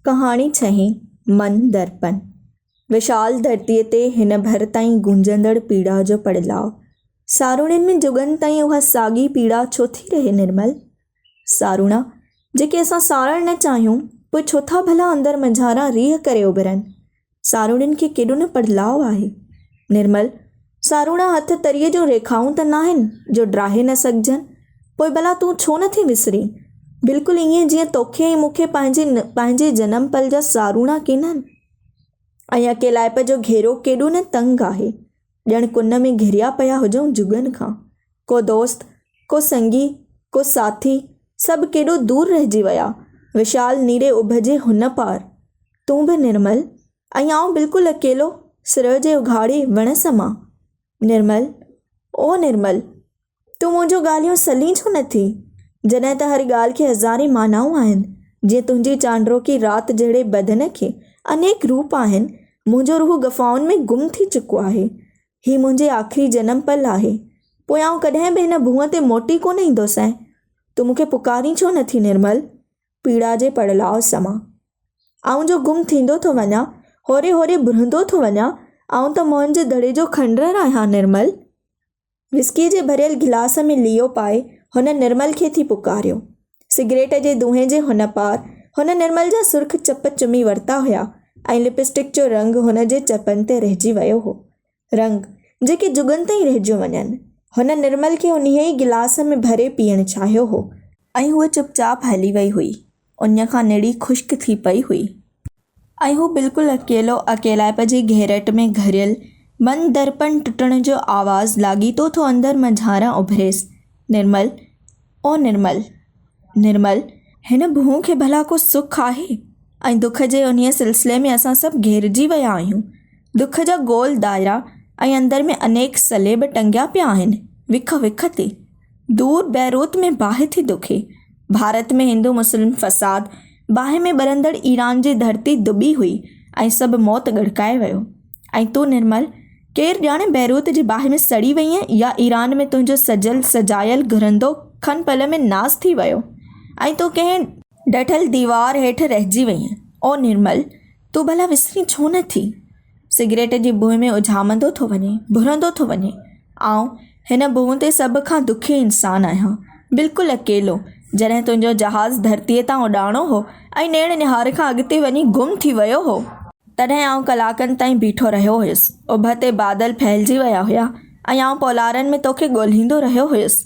ڪهاڻي ڇهين، من درپن، وشال ڌرتيء تي هن ڀر تائين گونجندڙ پيڙا جو پڙلاء، ساروڻين ۾ جڳن تائين اها ساڳي پيڙا ڇو ٿي رهي نرمل؟ ساروڻا، جيڪي اسان ساڙڻ نه چاهيون، پوء ڇو ٿا ڀلا اندر منجهاران ريهه ڪري اڀرن؟ ساروڻين کي ڪيڏو نه پڙلاء آهي. نرمل، ساروڻا هٿ تريء جون ريکائون ته ناهن جو ڊاهي نه سگهجن؟ پوء ڀلا تون ڇو نٿي وسرين؟ بلڪل ائين جيئن توکي ۽ مون کي پنهنجي پنهنجي جنم پل جا ساروڻا ڪينهن؟ ۽ اڪيلائپ جو گهيرو ڪيڏو نه تنگ آهي. ڄڻ ڪن ۾ گهريا پيا هجون جڳن کان. ڪو دوست، ڪو سنگي، ڪو ساٿي، سڀ ڪيڏو دور رهجي ويا. وشال نيري اڀ جي هن پار. تون به نرمل ۽ آئون بلڪل اڪيلو سرء جي اگهاڙي وڻ سمان. نرمل، او نرمل! تون منهنجون ڳالهيون سلين ڇو نه ٿي؟ جڏهن ته هر ڳالهه کي هزارين معنائون آهن، جيئن تنهنجي چانڊروڪي رات جهڙي بدن کي انيڪ روپ آهن، منهنجو روح گفائن ۾ گم ٿي چڪو آهي. هي منهنجي آخري جنم پل آهي. پوء آئون ڪڏهن به هن ڀونء تي موٽي ڪونه ايندوسانء. تون مون کي پڪارين ڇو نه ٿي نرمل؟ پيڙا جي پڙلاء سمان. آئون جو گم ٿيندو ٿو وڃان، هوري هوري برهندو ٿو وڃان، آئون ته موهن جي دڙي جو کنڊرر آهيان نرمل! وسڪيء جي ڀريل گلاس ۾ ليئو پائي هن نرمل کي ٿي پڪاريو. سگريٽ جي دونهين جي هن پار هن نرمل جا سرخ چپ چمي ورتا هيا ۽ لپسٽڪ جو رنگ هن جي چپن تي رهجي ويو هو. رنگ، جيڪي جڳن تائين رهجيون وڃن. هن نرمل کي انهيء ئي گلاس ۾ ڀري پيئڻ چاهيو هو. ۽ هوء چپ چاپ هلي وئي هئي. انهيء کان نڙي خشڪ ٿي پئي هئي. ۽ هو بلڪل اڪيلو، اڪيلائپ جي گهيرٽ ۾ گهريل، بند درپڻ ٽٽڻ جو آواز لاڳيتو ٿو اندر منجهانئران اڀريس، نرمل! او نرمل! نرمل! هن ڀونء کي ڀلا ڪو سک آهي؟ ۽ دک جي انهيء سلسلي ۾ اسان سڀ گهيرجي ويا آهيون. دک جا گول دائرا ۽ اندر ۾ انيڪ صليب ٽنگيا پيا آهن، وک وک تي. دور بيروت ۾ باهه ٿي دکي. ڀارت ۾ هندو مسلم فساد، باهه ۾ ٻرندڙ ايران جي ڌرتي دٻي هئي ۽ سڀ موت ڳڙڪائي ويو. ۽ تون نرمل، ڪير ڄاڻي بيروت جي باهه ۾ سڙي وئينء يا ايران ۾ تنهنجو سجل سجايل گهرندو کن پل ۾ ناس ٿي ويو ۽ تون ڪنهن ڊٺل ديوار هيٺ رهجي وئينء. او نرمل، تون ڀلا وسرين ڇو نه ٿي؟ سگريٽ جي بوء ۾ اجهامندو ٿو وڃين، ڀرندو ٿو وڃين. آئون هن ڀونء تي سڀ کان دکي انسان آهيان. بلڪل اڪيلو. جڏهن تنهنجو جهاز ڌرتيء تان اڏاڻو هو ۽ نيڻ نهار کان اڳتي وڃي گم ٿي ويو هو، تڏهن آئون ڪلاڪن تائين بيٺو رهيو هيس، اڀ تي بادل ڦهلجي ويا هيا ۽ آئون پولارن ۾ توکي ڳولهيندو رهيو هيس.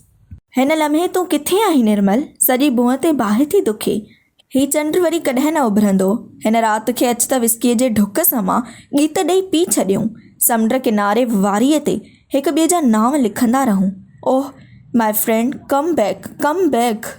هن لمحي تون ڪٿي آهين نرمل؟ سڄي ڀونء تي باهه ٿي دکي. هي چنڊ وري ڪڏهن نه اڀرندو. هن رات کي اچ ته وسڪيء جي ڍڪ سان مان ڳيت ڏئي پي ڇڏيون. سمنڊ ڪناري واريء تي هڪ ٻئي جا نانء لکندا رهون. Oh my friend come back come back.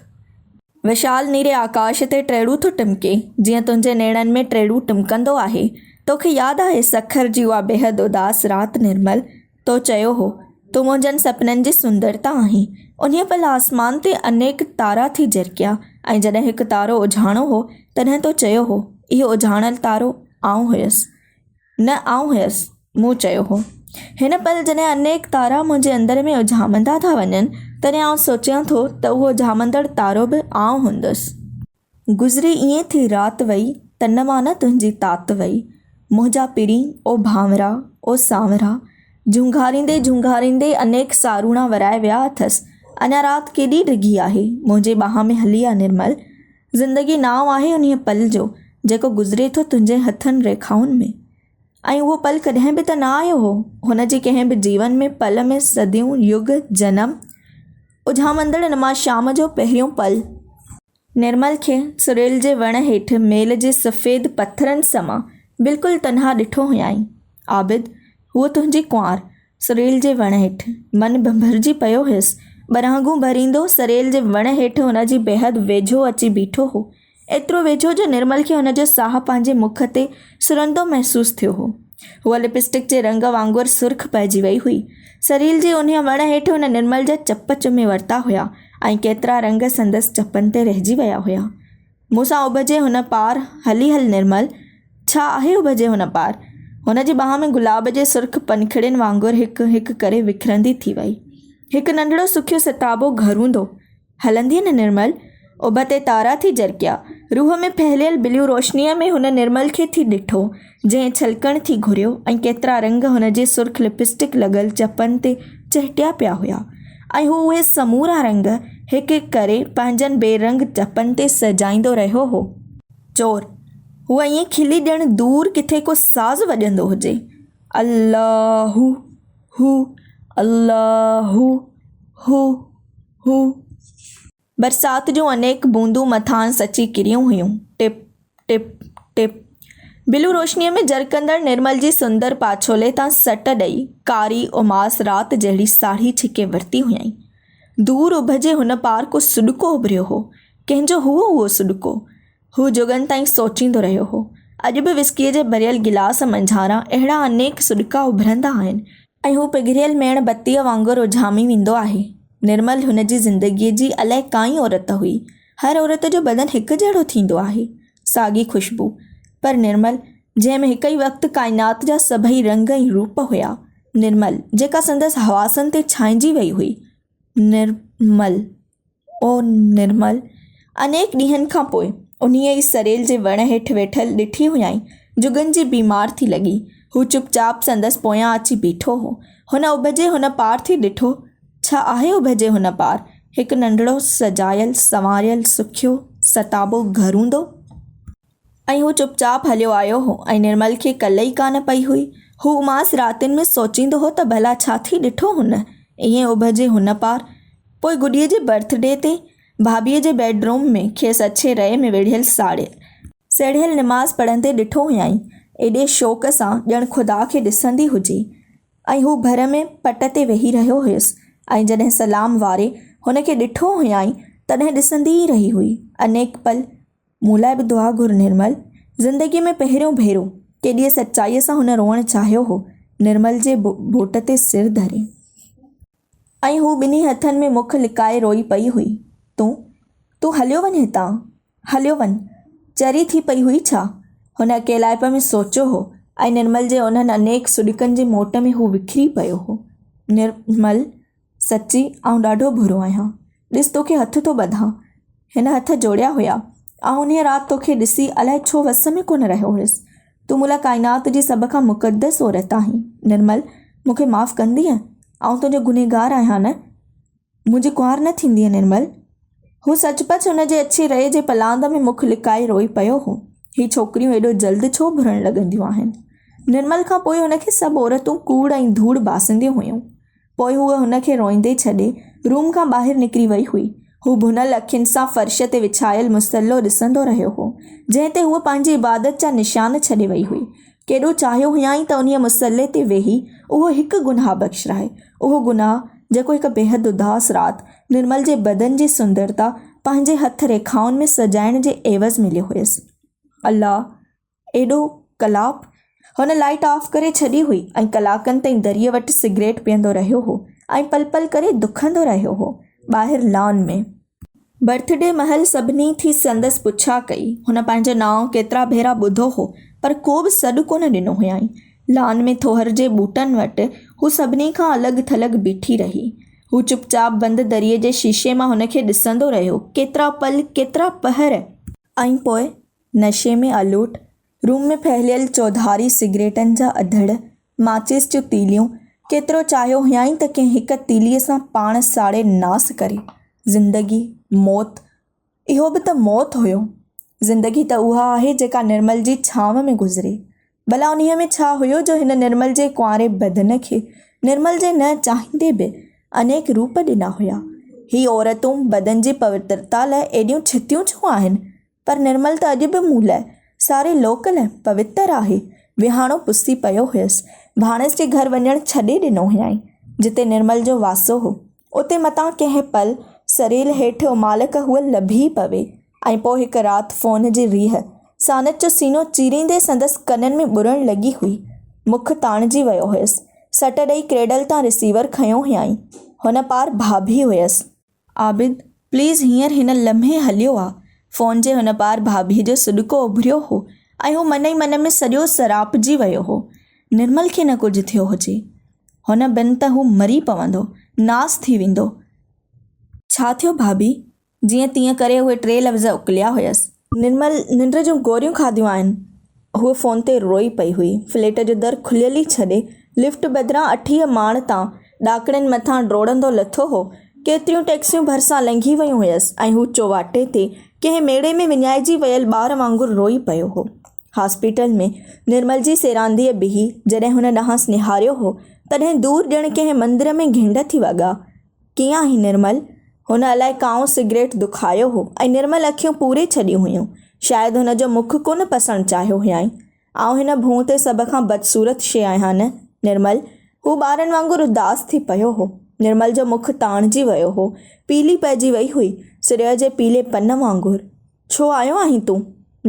وشال نيري آڪاش تي ٽيڙو ٿو ٽمڪي، جيئن تنهنجي نيڻن ۾ ٽيڙو ٽمڪندو آهي. توکي ياد آهي سکر جي اها بيحد اداس رات نرمل، تو چيو هو، تون منهنجن سپنن جي سندرتا آهين. انهيء پل آسمان تي انيڪ تارا ٿي جرڪيا ۽ جڏهن هڪ تارو اجهاڻو هو، تڏهن تو چيو هو، اهو اجهاڻل تارو آئون هيس. نه آئون هيس، مون چيو هو. هن پل جڏهن انيڪ تارا منهنجي اندر ۾ اجهامندا ٿا وڃن، تڏهن آئون سوچيان ٿو ته اهو اجهامندڙ تارو به آئون هوندس. گذري ائين ٿي رات وئي، تن مان نه تنهنجي تات وئي. منهنجا پرين او ڀانورا، او سانورا. جهونگاريندي جهونگاريندي انيڪ ساروڻا ورائي ويا اٿس. اڃا رات ڪيڏي ڊگهي آهي، منهنجي ٻانهن ۾ هلي آ نرمل. زندگي نانء آهي انهيء پل جو، جيڪو گذري ٿو تنهنجي هٿن ريکائن ۾. ۽ اهو پل ڪڏهن به ته نه آيو هو، هن جي ڪنهن به جيون ۾ پل ۾ صديون، يگ، جنم اجهامندڙ نما شام جو پهريون پل. نرمل کي سريل جي وڻ هيٺ ميل جي سفيد پٿرن سمان بلڪل تنها ڏٺو هيائين. عابد! هوء تنهنجي ڪنوار سريل جي وڻ هيٺ. من ڀنڀرجي پيو هيس. ٻرهنگون ڀريندو سريل جي وڻ هيٺ هن جي بيحد ويجهو اچي بيٺو هو. ايترو ويجهو جو نرمل کي هن جو ساهه پنهنجي مک تي سرندو محسوس ٿيو هو. هوء لپسٽڪ جي رنگ وانگر سرخ پئجي ويئي هئي. سريل جي انهيء وڻ هيٺ هن نرمل جا چپ چمي ورتا هيا ۽ ڪيترا رنگ سندس چپن تي رهجي ويا هيا. مون سان اڀ جي هن پار هلي هل نرمل! ڇا آهي اڀ جي هن پار؟ هن جي ٻانهن ۾ گلاب جي سرخ پنکڙين وانگر هڪ هڪ ڪري وکرندي ٿي ويئي. هڪ ننڍڙو سکيو ستابو گهروندو، هلندي هن نرمل اڀ تي تارا ٿي جرڪيا. روح ۾ ڦهليل بليو روشنيء ۾ هن نرمل کي ٿي ڏٺو، جنهن ڇلڪڻ ٿي گهريو ۽ ڪيترا رنگ هن جي سرخ لپسٽڪ لڳل چپن تي چهٽيا پيا هيا ۽ هو اهي سمورا رنگ هڪ هڪ ڪري پنهنجن بي رنگ چپن تي سهجائيندو رهيو هو. چور! هوء ائين کلي ڄڻ دور ڪٿي ڪو ساز وڄندو هجي. الله هو هو الله هو هو. هو. برسات جون انيڪ بوندون مٿانئس اچي ڪريون هيون. ٽپ، ٽپ، ٽپ. بلو روشنيء ۾ جرڪندڙ نرمل جي سندر پاڇولي تان سٽ ڏئي، ڪاري اماس رات جهڙي ساڙهي ڇڪي ورتي هيائين. دور اڀ جي هن پار ڪو سڏڪو اڀريو هو. ڪنهن جو هئو اهو سڏڪو؟ هو جڳن تائين سوچيندو رهيو هو. اڄ به وسڪيء جي ڀريل گلاس منجهاران اهڙا انيڪ سڏڪا اڀرندا آهن، ۽ هو پگهريل ميڻ بتيء وانگر اجهامي ويندو آهي نرمل هن جي زندگيء جي الائي ڪائين عورت هئي هر عورت جو بدن هڪ جهڙو ٿيندو آهي ساڳي خوشبو پر نرمل جنهن ۾ هڪ ئي وقت ڪائنات جا سڀئي رنگ ۽ روپ هيا نرمل جيڪا سندس حواسن تي ڇانئجي وئي هئي نرمل او نرمل! انيڪ ڏينهن کان پوء انهيء ئي سريل جي وڻ هيٺ ويٺل ڏٺي هيائين، جڳن جي بيمار ٿي لڳي. هو چپ چاپ سندس پويان اچي بيٺو هو. هن اڀجي هن پار ٿي ڏٺو. ڇا آهي اڀجي هن پار؟ هڪ ننڍڙو سجايل سنواريل سکيو ستابو گهر هوندو. ۽ هو چپ چاپ هليو آيو هو ۽ نرمل کي ڪل ئي ڪانه پئي هئي. هو اماس راتين ۾ سوچيندو هو ته ڀلا ڇا ٿي ڏٺو هن، ائين اڀ جي هن پار. پوء گڏيء جي برٿ ڊي تي، ڀاڀيء جي بيڊ روم ۾، کيس اڇي رئي ۾ ويڙهيل ساڙيل، سيڙهيل نماز پڙهندي ڏٺو هيائين، ايڏي شوق سان ڄڻ خدا کي ڏسندي هجي. ۽ هو ڀر ۾ پٽ تي ويهي رهيو هيس ۽ جڏهن سلام واري هن کي ڏٺو هيائين، تڏهن ڏسندي ئي رهي هئي، انيڪ پل. مون لاء به دعا گهر نرمل. زندگيء ۾ پهريون ڀيرو ڪيڏيء سچائيء سان هن روئڻ چاهيو هو، نرمل جي ٻوٽ تي سر ڌري. ۽ هوء ٻنهي هٿن ۾ مک لڪائي روئي پئي هئي. تون، تون هليو وڃ هتان. هليو وڃ. چري ٿي پئي هئي ڇا؟ هن اڪيلائپ ۾ سوچيو هو، ۽ نرمل جي انهن انيڪ سڏڪن جي موٽ ۾ هو وکري پيو هو. نرمل! سچي آئون ڏاڍو برو آهيان. ڏس توکي هٿ ٿو ٻڌان. هن هٿ جوڙيا هيا. آئون انهيء رات توکي ڏسي الائي ڇو وس ۾ ڪونه رهيو هيس. تون مون لاء ڪائنات جي سڀ کان مقدس عورت آهين. نرمل! مون کي معاف ڪندينء؟ آئون تنهنجو گنهگار آهيان نه؟ منهنجي ڪنوار نه ٿيندينء نرمل؟ هو سچ پچ ان جي اڇي رئي جي پلاند ۾ مک لڪائي روئي پيو هو. هي ڇوڪريون ايڏو جلد ڇو ڀرڻ لڳنديون آهن؟ نرمل کان پوء هن کي سڀ عورتون ڪوڙ ۽ ڌوڙ باسنديون هيون. پوء هوء هن کي روئيندي ڇڏي، روم کان ٻاهر نڪري وئي هئي. هو ڀنل اکين سان فرش تي وڇايل مصلو ڏسندو رهيو هو، جنهن تي هوء پنهنجي عبادت جا نشان ڇڏي وئي هئي. ڪيڏو چاهيو هيائين ته انهيء مصلي تي ويهي اهو هڪ گناهه بخشرائي، اهو گناهه، جيڪو هڪ بيحد اداس رات، نرمل جي بدن جي سندرتا پنهنجي هٿ ريکائن ۾ سجائڻ جي عيوض مليو هيس. الله! ايڏو ڪلاپ! هن لائيٽ آف ڪري ڇڏي هئي ۽ ڪلاڪن تائين دريء وٽ سگريٽ پيئندو رهيو هو ۽ پل پل ڪري دکندو رهيو هو. ٻاهر لان ۾. برٿ ڊي مهل سڀني ٿي سندس پڇا ڪئي. هن پنهنجو نانء ڪيترا ڀيرا ٻڌو هو، پر ڪو به سڏ ڪونه ڏنو هيائين. لان ۾ ٿوهر جي ٻوٽن وٽ هو سڀني کان الڳ ٿلڳ بيٺي رهي. هو چپ چاپ بند دريء جي شيشي مان هن کي ڏسندو رهيو، ڪيترا پل، ڪيترا پهر! ۽ پوء نشي ۾ الوٽ، روم ۾ ڦهليل چوڌاري سگريٽن جا اڌڙ، ماچيس جون تيليون، ڪيترو چاهيو هيائين ته ڪنهن هڪ تيليء سان پاڻ ساڙي ناس ڪري. زندگي، موت، اهو به ته موت هيو. زندگي ته اها آهي جيڪا نرمل جي ڇانو ۾ گذري. ڀلا انهيء ۾ ڇا هيو جو هن نرمل جي ڪنواري بدن کي، نرمل جي نه چاهيندي به، انيڪ روپ ڏنا هيا. هي عورتون بدن جي پوترتا لاء ايڏيون ڇتيون ڇو آهن؟ پر نرمل ته اڄ به مون لاء ساري لوڪ لاء پوتر آهي. ويهاڻو پسي پيو هيس. ڀاڻيس جي گهر وڃڻ ڇڏي ڏنو هيائين. جتي نرمل جو واسو هو، اتي متان ڪنهن پل سريل هيٺ امالڪ هوء لڀي پوي ۽ پوء هڪ رات فون جي ريهه ساند جو سينو چيريندي سندس ڪنن ۾ ٻرڻ لڳي هئي. مک تاڻجي ويو هيس. سٽ ڏئي ڪريڊل تان رسيور کنيو هيائين. هن پار ڀاڀي هيس. عابد، پليز هينئر هن لمحي هليو آ. فون جي هن پار ڀاڀيء جو سڏڪو اڀريو هو ۽ هو من ئي من ۾ سڄو سراپجي ويو هو. نرمل کي نه ڪجهه ٿيو هجي. هن بن ته هو مري پوندو، ناس ٿي ويندو. ڇا ٿيو ڀاڀي؟ جيئن تيئن ڪري اهي ٽي لفظ اڪليا هيس. نرمل ننڊ جون گوريون کاڌيون آهن. هوء فون تي روئي پئي هئي. فليٽ جو در کليل ئي ڇڏي، لفٽ بدران اٺيهه ماڙ تان ڏاڪڻين مٿان ڊوڙندو لٿو هو. ڪيتريون ٽئڪسيون ڀرسان لنگهي ويون هيس ۽ هو چوواٽي تي ڪنهن ميڙي ۾ وڃائجي ويل ٻار وانگر روئي پيو هو. هاسپيٽل ۾ نرمل جي سيرانديء بيهي جڏهن هن ڏانهس نهاريو هو، تڏهن دور ڄڻ ڪنهن مندر ۾ گهنڊ ٿي وڳا. ڪيئن آهين نرمل؟ هن الاء ڪانئون سگريٽ دکايو هو ۽ نرمل اکيون پوري ڇڏيون هيون. شايد هن جو مک ڪونه پسڻ چاهيو هيائين. آئون هن ڀونء تي سڀ کان بدصورت شيء آهيان نه نرمل؟ هو ٻارن وانگر اداس ٿي پيو هو. نرمل جو مک تاڻجي ويو هو. پيلي پئجي وئي هئي، سريء جي پيلي پن وانگر. ڇو آيو آهين تون؟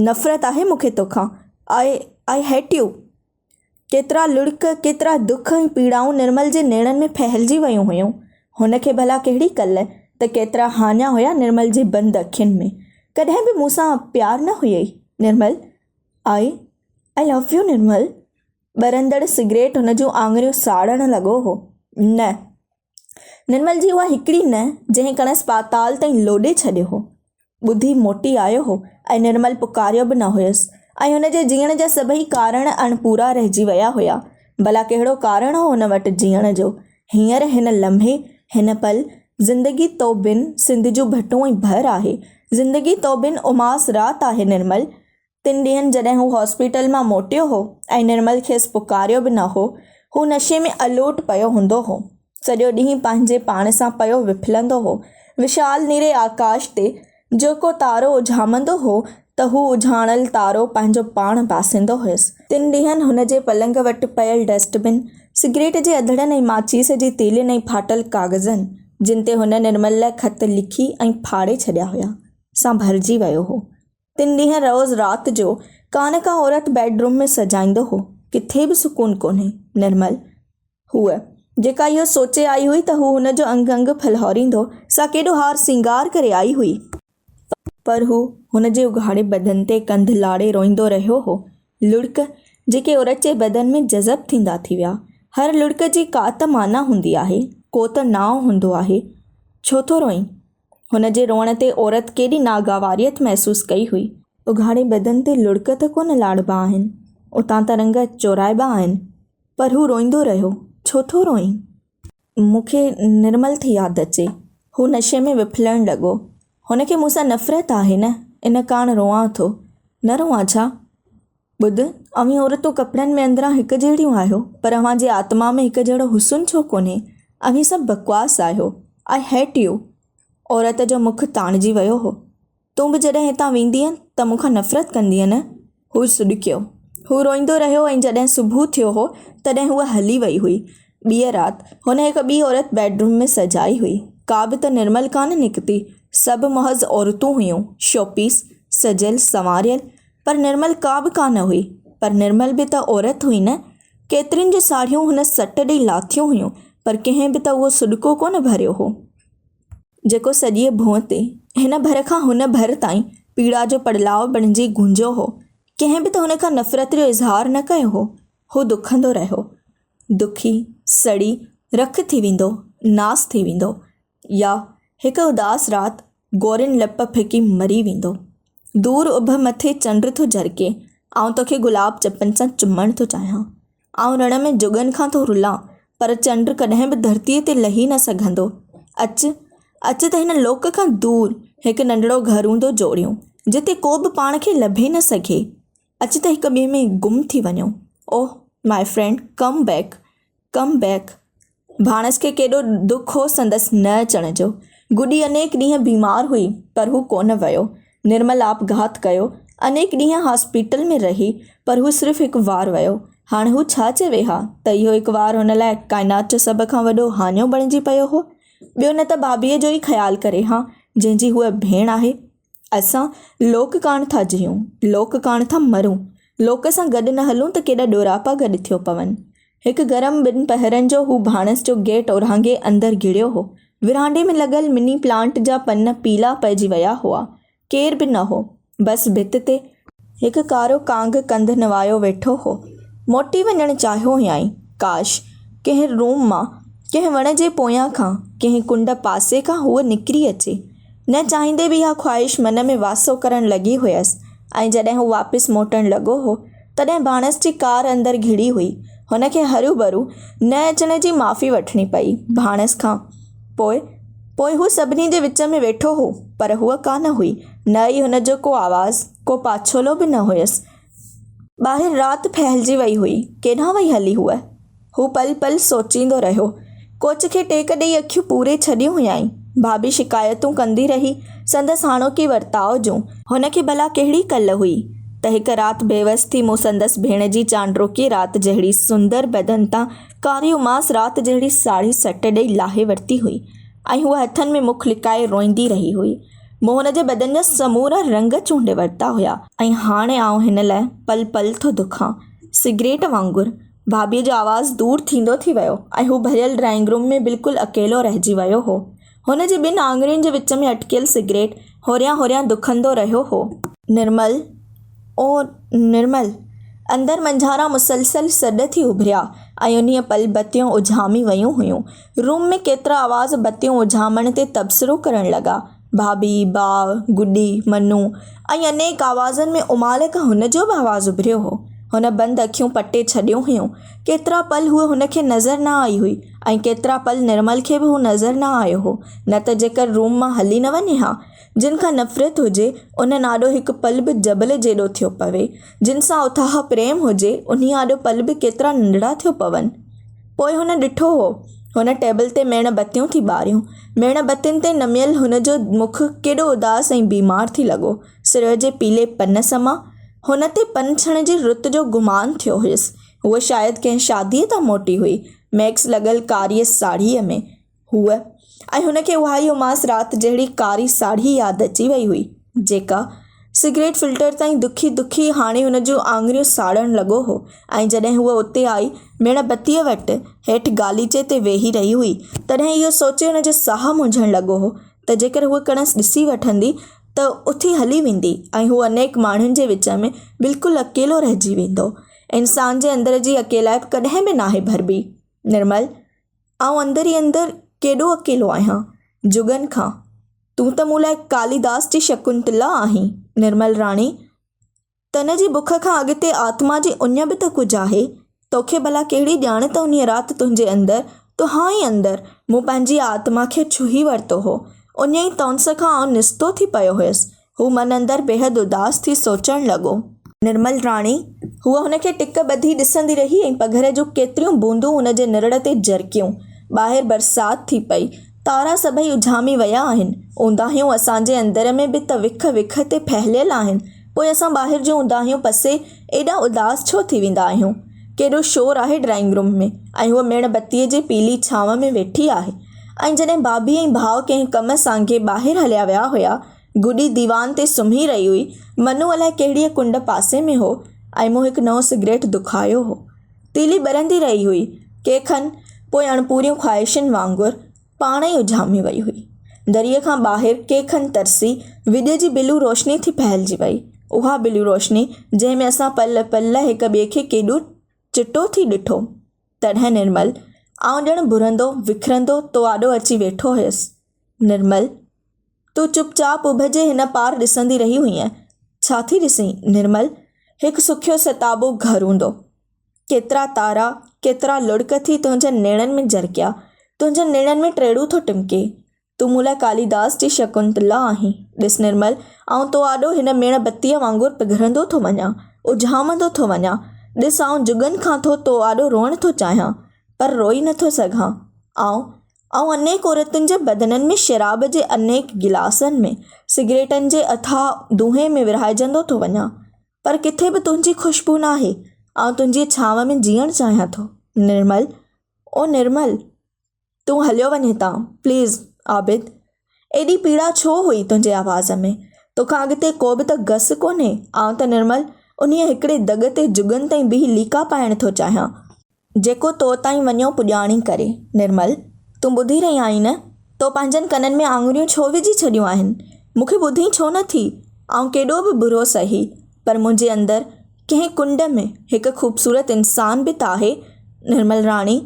نفرت آهي مون کي توکان. I, I hate you. ڪيترا لڙڪ، ڪيترا دک ۽ پيڙائون نرمل جي نيڻن ۾ ڦهلجي ويون هيون. هن کي ڀلا ڪهڙي ڪل ته ڪيترا هاڃا هيا نرمل جي بند اکين ۾. ڪڏهن به مون سان پيار نه هيئي نرمل. آئي آئي لو يو نرمل. ٻرندڙ سگريٽ هن جون آڱريون ساڙڻ لڳو هو. نه! نرمل جي اها هڪڙي نه جنهن کڻس پاتال تائين لوڏي ڇڏيو هو، ٻڌي موٽي آيو هو ۽ نرمل پڪاريو به نه هيس ۽ هن جي جيئڻ جا سڀئي ڪارڻ اڻپورا رهجي ويا هيا. ڀلا ڪهڙو ڪارڻ هو هن وٽ جيئڻ جو؟ هينئر هن لمحي، هن پل، زندگي تو بن سنڌ جون ڀٽون ۽ ڀر آهي، زندگي تو بن اماس رات آهي نرمل! تن ڏينهن جڏهن هو هاسپيٽل مان موٽيو هو ۽ نرمل کيس پڪاريو به نه هو. هو نشي ۾ الوٽ پيو هوندو هو. سڄو ڏينهن پنهنجي پاڻ سان پيو وڦلندو هو. وشال نيري آڪاش تي جيڪو تارو اجهامندو هو ته هو اجهاڻل تارو پنهنجو پاڻ باسيندو هيس. تن ڏينهن هن جي پلنگ وٽ پيل ڊسٽ بن، سگريٽ جي اڌڙن ۽ ماچيس جي تيلين ۽ ڦاٽل ڪاغذن، جن تي هن نرمل لاء خط لکي ۽ ڦاڙي ڇڏيا هيا، سان ڀرجي ويو هو. تن ڏينهن روز رات جو ڪانه ڪا عورت بيڊ روم ۾ سجائيندو هو. ڪٿي به سڪون ڪونهي. نرمل هوء، جيڪا اهو سوچي آئي هئي ته هو هن جو انگ انگ ڦلهاريندو، سا ڪيڏو هار سينگار ڪري آئي هئي، پر هو هن جي اگهاڙي بدن تي ڪنڌ لاڙي روئيندو رهيو هو، لڙڪ جيڪي اورچي بدن ۾ جذب ٿيندا ٿي ويا. هر لڙڪ جي ڪا ته معنيٰ هوندي آهي، ڪو ته نانء هوندو آهي. ڇو ٿو روئين؟ هن جي روئڻ تي عورت ڪيڏي ناگواريت محسوس ڪئي هئي. اگهاڙي بدن تي لڙڪ ته ڪونه لاڙبا آهن، اتان ته رنگ چورائبا آهن، پر هو روئيندو رهيو. ڇو ٿو روئين؟ مون کي نرمل ٿي ياد اچي. هو نشي ۾ وڦلڻ لڳو. هن کي مون سان نفرت آهي نه، ان ڪاڻ روئان ٿو. نه روئان ڇا؟ ٻڌ، اوهين عورتون ڪپڙن ۾ اندران هڪ جهڙيون آهيو، پر اوهان جي آتما ۾ هڪ جهڙو حسن ڇو ڪونهي؟ اوهين سڀ بڪواس آهيو. I hate you. عورت جو مک تاڻجي ويو هو. تون به جڏهن هتان ويندينء ته مون کان نفرت ڪندينء نه؟ هو سڏڪيو. هو روئيندو رهيو ۽ جڏهن صبح ٿيو هو، تڏهن هوء هلي وئي هئي. ٻيء رات، هن هڪ ٻي عورت بيڊروم ۾ سجائي هئي. ڪا به ته نرمل ڪانه نڪتي. سڀ محض عورتون هيون، شوپيس، سجيل سنواريل. پر نرمل ڪا به ڪانه هئي. پر نرمل به ته عورت هئي نه. ڪيترين جون ساڙهيون هن سٽ ڏئي لاٿيون هيون پر ڪنهن به ته اهو سڏڪو ڪونه ڀريو هو. جيڪو سڄيء ڀونء تي، هن ڀر کان هن ڀر تائين پيڙا جو پڙلاء بڻجي گونجيو هو. ڪنهن به ته هن کان نفرت جو اظهار نه ڪيو هو. هو دکندو رهيو. دکي، سڙي، رک ٿي ويندو، ناس ٿي ويندو. يا هڪ اداس رات گورين لپ ڦڪي مري ويندو. دور اڀ مٿي چنڊ ٿو جرڪي، آئون توکي گلاب چپن سان چمڻ ٿو چاهيان. آئون رڻ ۾ جڳن کان ٿو رلان، پر چنڊ ڪڏهن به ڌرتيء تي لهي نه سگهندو. اچ، اچ ته هن لوڪ کان دور هڪ ننڍڙو گهر هوندو جوڙيون، جتي ڪو به پاڻ کي لڀي نه سگهي. اچ ته هڪ ٻئي ۾ گم ٿي وڃون. Oh my friend come back, come back. ڀاڻس کي ڪيڏو دک هو سندس نه اچڻ جو. گڊي انيڪ ڏينهن بيمار هئي پر هو ڪونه ويو. نرمل آپگهات ڪيو. انيڪ ڏينهن هاسپيٽل ۾ رهي پر هو صرف هڪ وار ويو. هاڻ هو ڇا چوي ها ته اهو هڪ وار هن لاء ڪائنات جو سڀ کان وڏو هاڃو بڻجي پيو هو. ٻيو نه ته بابيء جو ئي خيال ڪري ها جنهن جي هوء ڀيڻ آهي. اسان لوڪ ڪاڻ ٿا جيئون، لوڪ ڪاڻ ٿا مرون، لوڪ سان گڏ نه هلون ته ڪيڏا ڏوراپا گڏ ٿيو پون. هڪ گرم ٻن پهرن جو هو ڀاڻس جو گيٽ اورانگهي اندر گهڙيو هو. ورانڊي ۾ لڳل مني پلانٽ جا پن پيلا پئجي ويا هئا. ڪير به نه هو. بس ڀت تي. هڪ ڪارو ڪانگ ڪنڌ نوايو ويٺو هو. موٽي وڃڻ چاهيو هيائين. ڪاش! ڪنهن روم مان، ڪنهن وڻ جي پويان کان، ڪنهن ڪنڊ پاسي کان هوء نڪري اچي. نه چاهيندي به اها خواهش من ۾ واسو ڪرڻ لڳي هيس ۽ جڏهن هو واپس موٽڻ لڳو هو، تڏهن ڀاڻس جي ڪار اندر گهڙي هئي. هن کي هروڀرو نه اچڻ جي معافي وٺڻي پئي ڀاڻس کان. پوء، پوء هو سڀني جي وچ ۾ ويٺو هو، پر هوء ڪانه هئي، نه ئي هن جو ڪو آواز، ڪو پاڇولو به نه هيس. ٻاهر رات ڦهلجي وئي هئي، ڪيڏانهن وئي هلي هوء؟ هو پل پل سوچيندو رهيو. ڪوچ کي ٽيڪ ڏيئي اکيون پوري ڇڏيون هيائين. ڀاڀي شڪايتون ڪندي رهي، سندس هاڻوڪي ورتاء جون. هن کي ڀلا ڪهڙي ڪل هئي، ته هڪ رات بيوس ٿي مون سندس ڀيڻ جي چانڊروڪي رات جهڙي سندر بدن تان ڪاري اماس رات جهڙي ساڙهي سٽ ڏئي لاهي ورتي هئي ۽ هوء هٿن ۾ مک لڪائي روئيندي رهي هئي. مون هن جي بدن جا سمورا رنگ چونڊي ورتا هيا ۽ هاڻي آئون هن لاء پل پل ٿو دکان. سگريٽ وانگر. ڀاڀيء جو آواز دور ٿيندو ٿي ويو ۽ هو ڀريل ڊرائنگ روم ۾ بلڪل اڪيلو رهجي ويو هو. هن جي ٻن آڱرين جي وچ ۾ اٽڪيل سگريٽ هوريان هوريان دکندو رهيو هو. نرمل! او نرمل! اندر منجهاران مسلسل سڏ ٿي اڀريا ۽ انهيء پل بتيون اجهامي ويون هيون. روم ۾ ڪيترا آواز بتيون اجهامڻ تي تبصرو ڪرڻ لڳا. ڀاڀي، باء، گڊي، منو ۽ انيڪ آوازن ۾ امالڪ هن جو به آواز اڀريو هو. هن بند اکيون پٽي ڇڏيون هيون. ڪيترا پل هوء هن کي نظر نه آئي هئي. ۽ ڪيترا پل نرمل کي به هو نظر نه آيو هو، نه ته جيڪر روم مان هلي نه وڃي ها. جن کان نفرت هجي، انهن آڏو هڪ پل به جبل جيڏو ٿيو پوي، جن سان اٿاهه پريم هجي، انهي آڏو پل به ڪيترا ننڍڙا ٿيو پون. پوء هن ڏٺو هو، هن ٽيبل تي ميڻ بتيون ٿي ٻاريون. ميڻ بتين تي نميل هن جو مک ڪيڏو اداس ۽ بيمار ٿي لڳو. سرء جي پيلي پن سمان، هن تي پن ڇڻ جي رت جو گمان ٿيو هيس. هوء شايد ڪنهن شاديء تان موٽي هئي. ميڪس لڳل ڪاريء ساڙهيء ۾ هو ۽ هن کي اها ئي اماس رات جهڙي ڪاري ساڙهي ياد اچي وئي هئي، جيڪا سگريٽ فلٽر تائين دکي دکي هاڻي هن جون آڱريون ساڙڻ لڳو هو ۽ جڏهن هوء اتي آئي ميڻ بتيء وٽ هيٺ غاليچي تي ويهي رهي هئي، تڏهن اهو سوچي هن جو ساهه منجهڻ لڳو هو ته جيڪر هوء کڻس ڏسي وٺندي ته اٿي هلي ويندي ۽ هو انيڪ ماڻهن جي وچ ۾ بلڪل اڪيلو رهجي ويندو. انسان جي اندر جي اڪيلائپ ڪڏهن به ناهي ڀربي. نرمل، آئون اندر ئي اندر ڪيڏو اڪيلو آهيان. جڳن کان، تون ته مون لاء ڪاليداس جي شڪنتلا آهين. نرمل راڻي، تن جي بک کان اڳتي آتما جي اڃ به ته ڪجهه آهي. توکي ڀلا ڪهڙي ڄاڻ ته انهيء رات تنهنجي اندر، تنهان ئي اندر، مون پنهنجي آتما کي ڇهي ورتو هو. اڃ ئي تئونس کان آئون نستو ٿي پيو هيس. هو من اندر بيحد اداس ٿي سوچڻ لڳو. نرمل راڻي! هوء هن کي ٽڪ ٻڌي ڏسندي رهي ۽ پگهر جون ڪيتريون بوندون هن جي نرڙ تي جرڪيون. ٻاهر برسات ٿي پئي. تارا سڀئي اجهامي ويا آهن. اونداهيون اسان جي اندر ۾ به ته وک وک تي ڦهليل آهن. پوء اسان ٻاهر جون اونداهيون پسي ايڏا اداس ڇو ٿي ويندا آهيون؟ ڪيڏو شور آهي ڊرائنگ روم ۾ ۽ هوء ميڻ بتيء جي پيلي ڇانو ۾ ويٺي آهي ۽ جڏهن ڀاڀي ۽ ڀاء ڪنهن ڪم سانگي ٻاهر هليا ويا هيا گڏي ديوان تي سمهي رهي هئي. منو الائي ڪهڙيء ڪنڊ پاسي ۾ هو ۽ مون هڪ نئون سگريٽ دکايو هو. تيلي ٻرندي رهي هئي. ڪي کن پوء اڻپوريون خواهشن وانگر پاڻ ئي اجهامي وئي هئي. دريء کان ٻاهر ڪي کن ترسي وڄ جي بلو روشني ٿي ڦهلجي وئي. اها بلو روشني جنهن ۾ اسان پل پل لاء هڪ ٻئي کي ڪيڏو چٽو ٿي ڏٺو. تڏهن نرمل، آئون ڄڻ ڀرندو وکرندو تو آڏو اچي ويٺو هيس. نرمل، تون چپ چاپ اڀ جي هن پار ڏسندي رهي هئينء، ڇا ٿي ڏسين؟ نرمل، هڪ سکيو ستابو گهر هوندو. ڪيترا تارا، ڪيترا لڙڪ ٿي تنهنجن نيڻن ۾ جرڪيا، تنهنجن نيڻن ۾ ٽيڙو ٿو ٽمڪي. تون مون لاء ڪاليداس جي شڪنتلا آهين. ڏس نرمل، آئون تو آڏو هن ميڻ بتيء وانگر پگهرندو ٿو وڃان، اجهامندو ٿو وڃان. ڏس آئون جڳن کان ٿو تو آڏو روئڻ ٿو چاهيان، پر روئي نٿو سگهان. آئون آئون انيڪ عورتن جي بدنن ۾ شراب جي انيڪ گلاسن ۾، سگريٽن جي اٿاهه دونهين ۾ ورهائجندو ٿو وڃان، پر ڪٿي به تنهنجي خوشبو ناهي، آئون تنهنجي ڇانو ۾ جيئڻ چاهيان ٿو نرمل، او نرمل! تون هليو وڃ هتان، پليز عابد! ايڏي پيڙا ڇو هئي تنهنجي آواز ۾، توکان اڳتي ڪو به ته گس ڪونهي، آئون ته نرمل انهيء هڪڙي دڳ تي جڳن تائين بيهي ليڪا پائڻ ٿو چاهيان، جيڪو تو تائين وڃيو پڄاڻي ڪري. نرمل، تون ٻڌي رهي آهين نه؟ تو پنهنجن ڪنن ۾ آڱريون ڇو وجهي ڇڏيون آهن؟ مون کي ٻڌين ڇو نه ٿي؟ آئون ڪيڏو به برو سهي، پر منهنجي اندر ڪنهن ڪنڊ ۾ هڪ خوبصورت انسان به ته آهي. نرمل راڻي،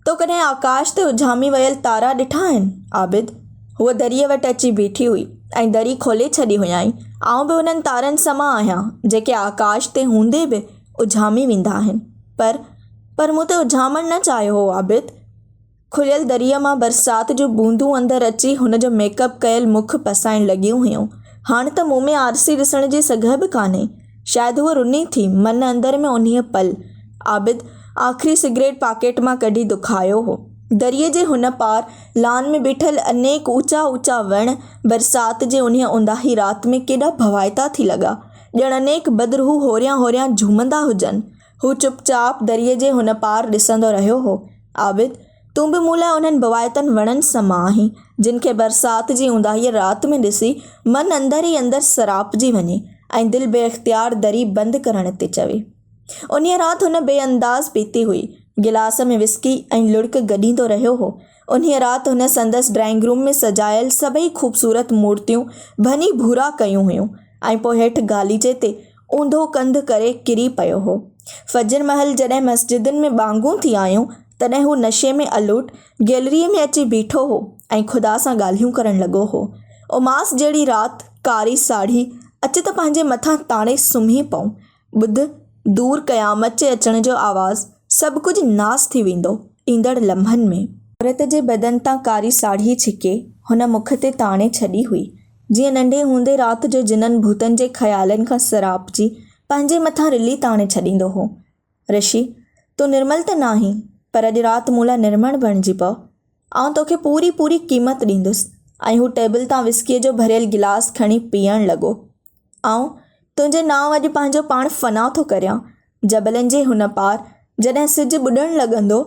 تو ڪڏهن آڪاش تي اجهامي ويل تارا ڏٺا آهن؟ عابد، هوء دريء وٽ اچي بيٺي هئي ۽ دري کولي ڇڏي هيائين. آئون به انهن تارن سمان آهيان، جيڪي آڪاش تي هوندي به اجهامي ويندا آهن. پر پر مون ته اجهامڻ نه چاهيو هو عابد! کليل دريء مان برسات جون بوندون اندر اچي هن جو ميڪ اپ ڪيل مک پسائڻ لڳيون هيون. هاڻ ته مون ۾ آرسي ڏسڻ جي سگهه به ڪانهي. شايد هوء رني ٿي. من اندر ۾ انهيء پل، عابد آخري سگريٽ پاڪيٽ مان ڪڍي دکايو هو. دريء جي هن پار لان ۾ بيٺل انيڪ اوچا اوچا وڻ، برسات جي انهيء اونداهي رات ۾ ڪيڏا ڀوائتا ٿي لڳا. ڄڻ انيڪ بدر هو هوريان هوريان جهومندا هجن. هو چپ چاپ دريء جي هن پار ڏسندو رهيو هو. عابد! تون به مون لاء انهن ڀوائتن وڻن سمان آهين، جن کي برسات جي اونداهيء رات ۾ ڏسي، من اندر ئي اندر سراپجي وڃي ۽ دل بي اختيار دري بند ڪرڻ تي چوي. انهيء رات هن بي انداز پيتي هئي. گلاس ۾ وسڪي ۽ لڙڪ گڏيندو رهيو هو. انهيء رات هن سندس ڊرائنگ روم ۾ سجايل سڀئي خوبصورت مورتيون ڀڃي ڀورا ڪيون هيون ۽ پوء هيٺ گاليچي تي اونڌو ڪنڌ ڪري ڪري پيو هو. فجر مهل جڏهن مسجدن ۾ ٻانگون ٿي آيون، تڏهن هو نشي ۾ الوٽ گيلريء ۾ اچي بيٺو هو ۽ خدا سان ڳالهيون ڪرڻ لڳو هو. اماس جهڙي رات، ڪاري ساڙهي، اچ ته پنهنجي مٿان تاڻي سمهي پئون. ٻڌ، دور قيامت جي اچڻ جو آواز، سڀ ڪجهه ناس ٿي ويندو، ايندڙ لمحن ۾. عورت جي بدن تان ڪاري ساڙهي ڇڪي هن مک تي تاڻي ڇڏي هئي، جيئن ننڍي هوندي رات جو جنن ڀوتن جي خيالن کان سراپجي پنهنجي مٿان رلي تاڻي ڇڏيندو هو. رشي! تون نرمل ته ناهين، پر اڄ رات مون لاء نرمڻ بڻجي پء. آئون توکي پوري پوري قيمت ڏيندس ۽ هو ٽيبل تان وسڪيء جو ڀريل گلاس کڻي پيئڻ لڳو. آئون تنهنجي نانء اڄ پنهنجو پاڻ فنا ٿو ڪريان. جبلن جي هن پار جڏهن سج ٻڏڻ لڳندو،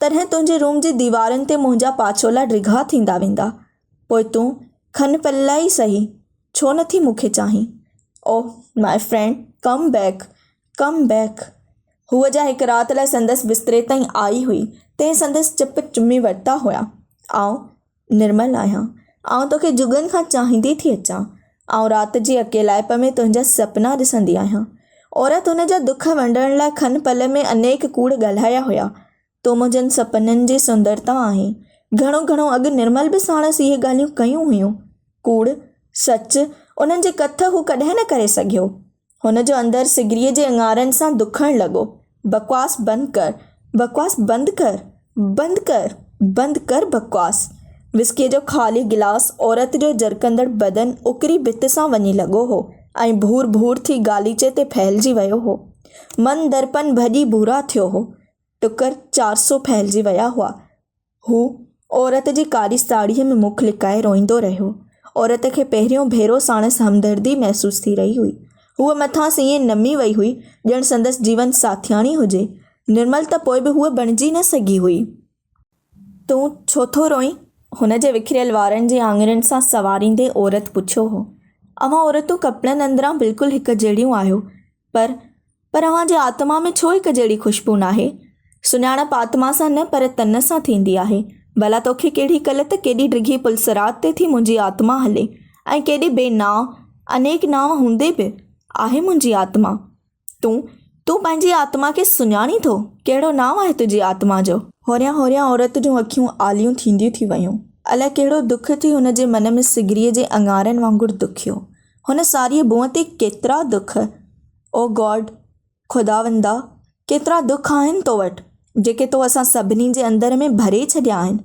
تڏهن تنهنجي روم جي ديوارن تي منهنجا پاڇولا ڊگها ٿيندا ويندا. پوء تون کن پل لاء ئي سهي، ڇو نٿي مون کي چاهين. Oh my friend come back. Come back, هوء جا هڪ رات لاء سندس بستري تائين آئي هئي، تنهن سندس چپ چمي ورتا هيا، آئون نرمل آهيان، آئون توکي جڳن کان چاهيندي ٿي اچان، آئون رات جي اڪيلائپ ۾ تنهنجا سپنا ڏسندي آهيان. عورت هن جا دک ونڊڻ لاء کن پل ۾ انيڪ ڪوڙ ڳالهايا هيا، تون منهنجن سپنن جي سندرتا آهين. گهڻو گهڻو اڳ نرمل به ساڻس اهي ڳالهيون ڪيون هيون. ڪوڙ، سچ، انهن جي ڪٿ هو ڪڏهن نه ڪري سگهيو. هن جو اندر سگريء جي اڱارن سان دکڻ لڳو. بڪواس بند ڪر، بڪواس بند ڪر، بند ڪر، بند ڪر بڪواس. وسڪيء جو خالي گلاس عورت جو جرڪندڙ بدن اڪري ڀت سان وڃي لڳو هو ۽ ڀور ڀور ٿي غاليچي تي ڦهلجي ويو هو. من درپن ڀڄي ڀورا ٿيو هو. ٽڪر چار سو ڦهلجي ويا هئا. هو عورت جي ڪاري ساڙهيء ۾ مک لڪائي روئيندو رهيو. عورت کي پهريون ڀيرو ساڻس همدردي محسوس ٿي رهي هئي. هوء مٿانئس ائين نمي وئي هئي، ڄڻ سندس جيون ساٿياڻي هجي. نرمل ته پوء به هوء بڻجي نه سگهي هئي. تون ڇو ٿو روئين؟ هن جي وکريل وارن جي آڱرين سان سنواريندي عورت پڇيو هو. اوهان عورتون ڪپڙن اندران بلڪل هڪ جهڙيون آهيو، پر پر اوهان جي آتما ۾ ڇو هڪ جهڙي خوشبو ناهي؟ سڃاڻپ آتما سان نه پر تن سان ٿيندي آهي. ڀلا توکي ڪهڙي ڪل ته ڪيڏي ڊگهي پل صراط تي ٿي منهنجي آتما هلي ۽ ڪيڏي بي نانء، انيڪ نانء هوندي به، آهي منهنجي آتما. تون، تون پنهنجي آتما کي سڃاڻين ٿو؟ ڪهڙو نانء آهي تنهنجي آتما جو؟ هوريان هوريان عورت جون اکيون آليون ٿينديون ٿي ويون. الائي ڪهڙو دک ٿي هن جي من ۾ سگريء جي اڱارن وانگر دکيو. هن ساريء بونء تي ڪيترا دک، او گاڊ، خداوندا، ڪيترا دک آهن تو وٽ، جيڪي تو اسان سڀني جي اندر ۾ ڀري ڇڏيا آهن،